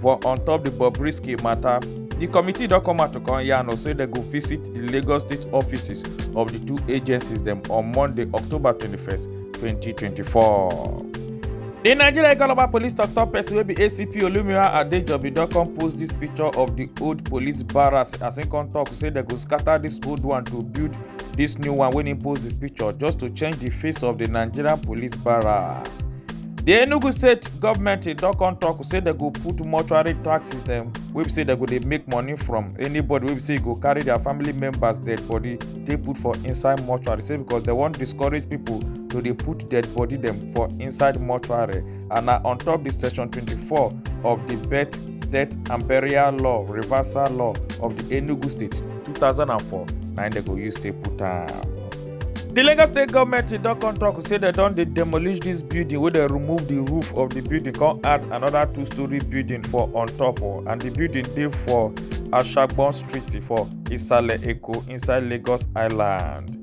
for on top di bobrisky mata di committee don come out to come yarn us say dem go visit di lagos state offices of di two agencies dem on monday october 21st 2024. di nigeria ikoloba police tok-tok pesin wey be acp olumira adejobi don come post dis picture of di old police barracks as im come tok say dem go scatter dis old one to build dis new one wey im post dis picture just to change di face of di nigerian police barracks. di enugu state government e don come talk say dem go put mortuary tax system wey be say dem go dey make money from anybody wey be say e go carry their family members dead body take put for inside mortuary say because dem wan discourage people to dey put dead body dem for inside mortuary and na on top di section 24 of di birth death and burial law reversal law of di enugu state 2004 na im dem go use take put am. di lagos state goment don come tok say dem don dey demolish dis building wey dem remove di roof of di building come add anoda two story building for on top oh, and di building dey for ashagbon street for isale eko inside lagos island.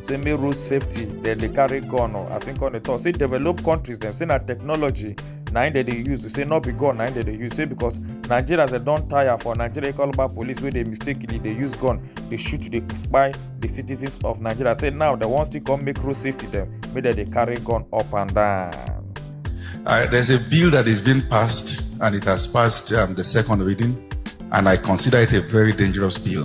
say me road safety dem dey carry gun o as im come dey talk say developed countries dem say na technology na im dem dey use say no be gun na im dem dey use say because nigerians dem don tire for nigeria call back police wey dey mistakenly dey use gun dey shoot dey kpai the citizens of nigeria say now dem wan still come make road safety dem make dem dey carry gun up and down. Uh, there's a bill that is being passed, and it has passed um, the second reading, and I consider it a very dangerous bill.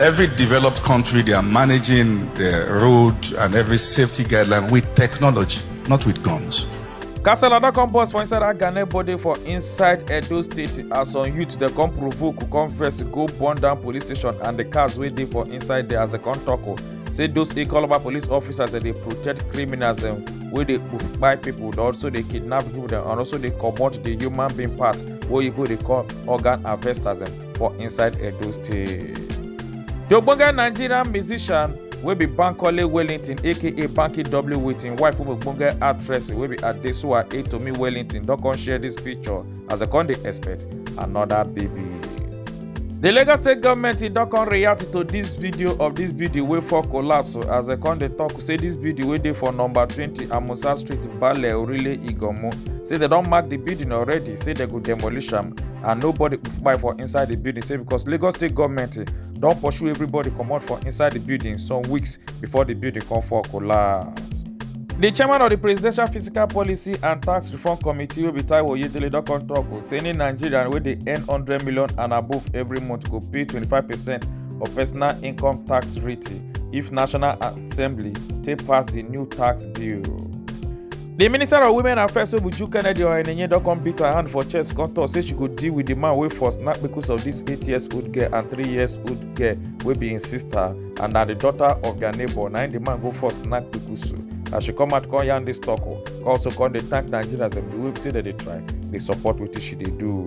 Every developed country, they are managing the road and every safety guideline with technology, not with guns. Kasala don come burst for inside Agane body for inside Edo State as some youth dem come provoke come vex go burn down police station and the cars wey dey for inside there as dem come talk o say those Ikoloba police officers dem dey protect criminals dem wey dey kpai people dem also dey kidnap people dem and also dey comot the human being part wey oyibo dey call organ harvesters dem. for inside edo state di ogbonge nigerian musician wey be bankole wellington aka banky w with im wife wey be ogbonge actress wey be adesuwa etomi wellington don come share dis picture as dem come dey expect anoda baby di lagos state goment e don come react to dis video of dis building wey fall collapse as dem come dey tok say dis building wey dey for number twenty amusa street bale orile iganmu say dem don mark di building already say dem go demolish am and nobody kpai for inside di building say because lagos state goment don pursue everybody comot for inside di building some weeks before di building come fall collapse. di chairman of di presidential fiscal policy and tax reform committee wey be taiwo oyedele don come tok o say any nigerian wey dey earn hundred million and above every month go pay twenty-five percent of personal income tax rate if national assembly take pass di new tax bill. di minister of women affairs obuju kennedy ohenenye don come beat her hand for chest come tok say she go deal with di man wey for snap kpekus of dis eight years old girl and three years old girl wey be im sister and na di daughter of dia neighbour na im di man go for snap kpekusu as she come out come yarn dis tok o come also come dey thank nigerians dem di way be say dem dey try dey support wetin she dey do.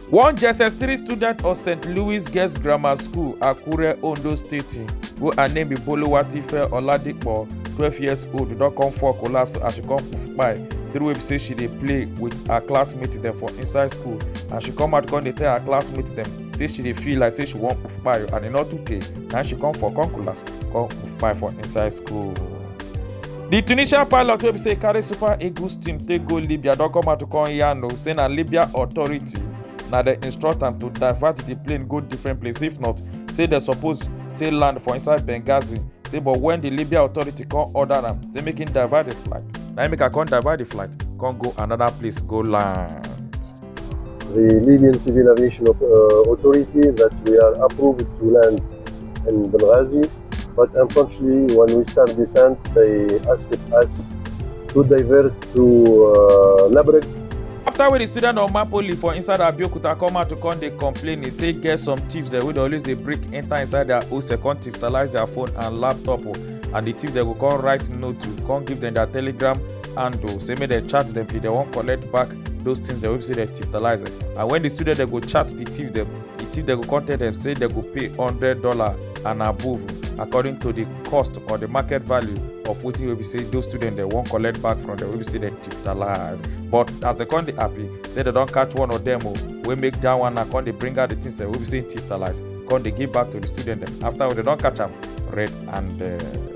One JSS3 student of St. Louis Girls Grammar School, Akure, Ondo State, wey her name be Boluwatife Oladipo, 12 years old, don come fall collapse as she come poof kpai during wey be say she dey play with her classmates dem for inside school and she come out come dey tell her classmates dem say she dey feel like say she wan poof kpai and e no too tey na she come fall come collapse come poof kpai for inside school. di tunisian pilot wey be say carry super eagles team take go libya don come out to come yarn o say na libya authority na dem instruct am to divert di plane go different place if not say dem suppose take land for inside benghazi say but wen di libya authority come order am say make im divert di flight na im make am come divert di flight come go anoda place go land. The Libyan Civil Aviation uh, Authority that we are approved to land in Benghazi, but unfortunately when we start descent, they asked us to divert to uh, Labrek after wey di student of mapoli for inside abeokuta come out to come dey complain e say get some thieves dem wey dey always dey break enter inside their hostel come thiefalize their phone and laptop o oh. and the thief dem go come write note to come give dem their telegram handle oh. say make dem chat dem if dem wan collect back those things dem wey be say dem titalize and when the student dem go chat the thief dem the thief dem go come tell dem say dem go pay hundred dollar and above according to the cost or the market value of wetin wey be say those students dem wan collect back from dem wey be say dem titalize but as dem come dey happy say dem don catch one of dem o wey make that one na come dey bring out the things dem wey be say titalize come dey give back to the student dem after dem don catch am red handed.